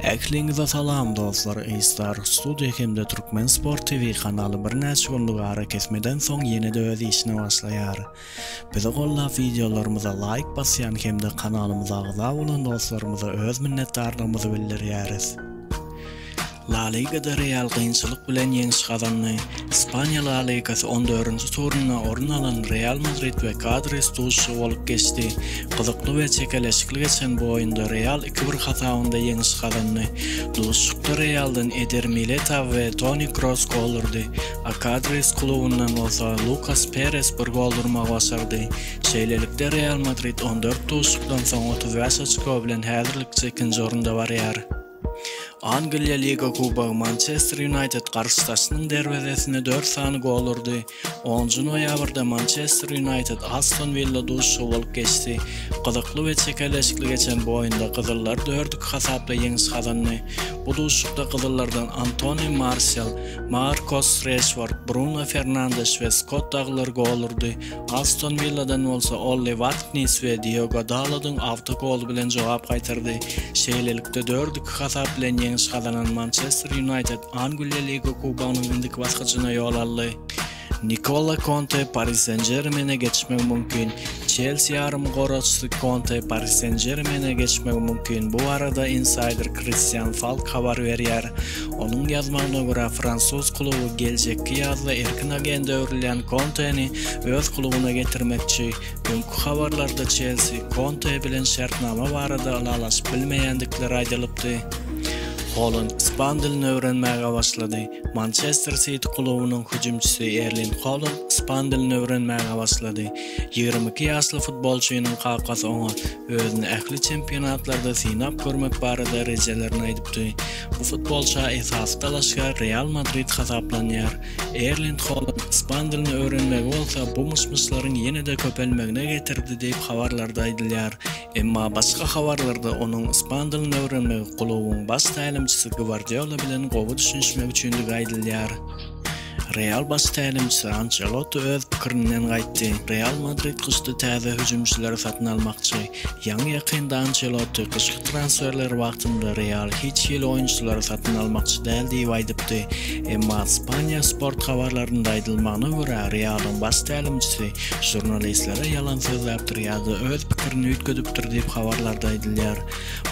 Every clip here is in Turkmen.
Ähliňize salam dostlar Aystar studio hemde Türkmen sport TV kanaly birnäçe günlük arakesmeden soň ýene-de öz işine başlaýar. Bizi gollap wideolarymyza laýk basýan hemde kanalymyza agza bolan dostlarymyza öz minnetdarlygymyzy bildirýäris. La Ligada Real kynçylyk bilen ýeňiş gazandy. Ispaniýa La Ligasy on dördünji turunda orun alan Real Madrid we Kadris duşuşygy bolup geçdi. Gyzykly we çekeleşikli geçen bu oýunda Real iki bir hasabynda ýeňiş gazandy. Duşuşykda Realdan Eder Militao we Toni Kroos gol urdy, a Kadris klubundan bolsa Lukas Peres bir gol urmagy başardy. Şeýlelikde, Real Madrid on dört duşuşykdan soň otuz bäş oçko bilen häzirlikçe ikinji orunda barýar. Angliýa Liga Kubogy Mançester Ýunaýted garşydaşynyň derwezesine dört sany gol urdy. Onunjy noýabrda Mançester Ýunaýted Aston Willa duşuşygy bolup geçdi. Gyzykly we çekeleşikli geçen bu oýunda gyzyllar dört-iki hasaply ýeňiş gazandy. Bu duşuşykda gyzyllardan Antoni Marsial, Markos Reşford, Bruno Fernandeş we Skott Daglar gol urdy. Aston Willadan bolsa Olli Warknis we Diogo Dalodyň awtogoly bilen jogap gaýtardy. Şeýlelikde, dört-iki hasap bilen ýeňiş gazanan Mançester Ýunaýted Angliýa Liga Kubogynyň indiki basgyjyna ýol aldy. Nikola Konte Pari Sen-Žermene geçmegi mümkin. Çelsi ýarymgoraçysy Konte Pari Sen-Žermene geçmegi mümkin. Bu barada insaýder Kristian Falk habar berýär. Onuň ýazmagyna görä, fransuz kluby geljekki ýazda erkin agent öwrülýän Konteni öz klubyna getirmekçi. Öňki habarlarda Çelsi, Konte bilen şertnama barada ylalaşyp bilmeýändikleri aýdylypdy. Holand ispan dilini öwrenmäge başlady. Mançester Siti klubunyň hüjümçisi Erling Holand ispan dilini öwrenmäge başlady. Ýigrimi iki ýaşly futbolçynyň kakasy oňa Özüni ähli çempionatlarda synap görmek barada rejelerini aýdypdy. Bu futbolça esasy dalaşgär Real Madrid hasaplanýar. Erling Holand ispan dilini öwrenmegi bolsa bu myş-myşlaryň ýene-de köpelmegine getirdi diýip habarlarda aýdylýar. Emma başga habarlarda onuň ispan dilini öwrenmegi klubuň baş tälimçisi Gwardiola bilen gowy düşünişmek üçindigi aýdylýar. Real baş tälimçisi Ançelotti öz pikirinden gaýtdy. Real Madrid gyşda täze hüjümçileri satyn almakçy. Ýaňy-ýakynda Ançelotti gyşky transferler wagtynda Real hiç hili oýunçylary satyn almakçy däl diýip aýdypdy. Emma Ispaniýa sport habarlarynda aýdylmagyna görä, Realyň baş tälimçisi žurnalistlere ýalan sözläpdir ýa-da öz pikirini üýtgedipdir diýip habarlarda aýdylýar.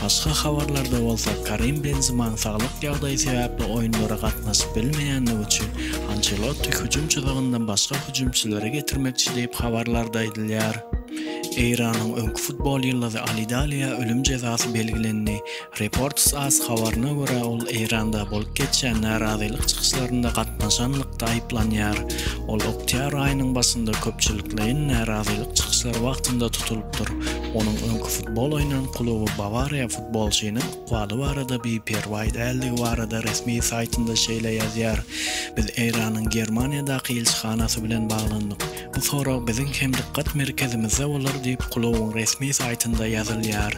Başga habarlarda bolsa Karim Benzemanyň saglyk ýagdaýy sebäpli oýunlara gatnaşyp bilmeýändigi üçin Ançelotti hüjüm çyzygyndan başga hüjümçileri getirmekçi diýip habarlarda aýdylýar. Eýranyň öňki futbol ýyldyzy Ali Daliýa ölüm jezasy belgilendi. Reports as habaryna görä, ol Eýranda bolup geçýän närazylyk çykyşlarynda gatnaşanlykda aýyplanýar. Ol oktýabr aýynyň başynda köpçülikleýin närazylyk çykyşlary wagtynda tutulypdyr. Onuň öňki futbol oýnan kluby Bawariýa futbolçynyň ykbaly barada biperwaý däldigi barada resmi saýtynda şeýle ýazýar, Biz Eýranyň Germaniýadaky ilçihanasy bilen baglandyk. Bu sorag biziň hem dykgat merkezimizde bolar diýip, klubyň resmi saýtynda ýazylýar.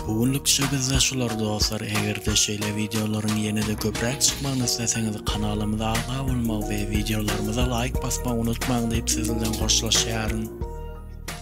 Bu günlük şübizde şular dostlar, eger-de şeýle wideolaryň ýene-de köpräk çykmagyny isleseňiz kanalymyza agza bolmagy we wideolarymyza laýk basmagy unutmaň diýip siz bilen hoşlaşýaryn.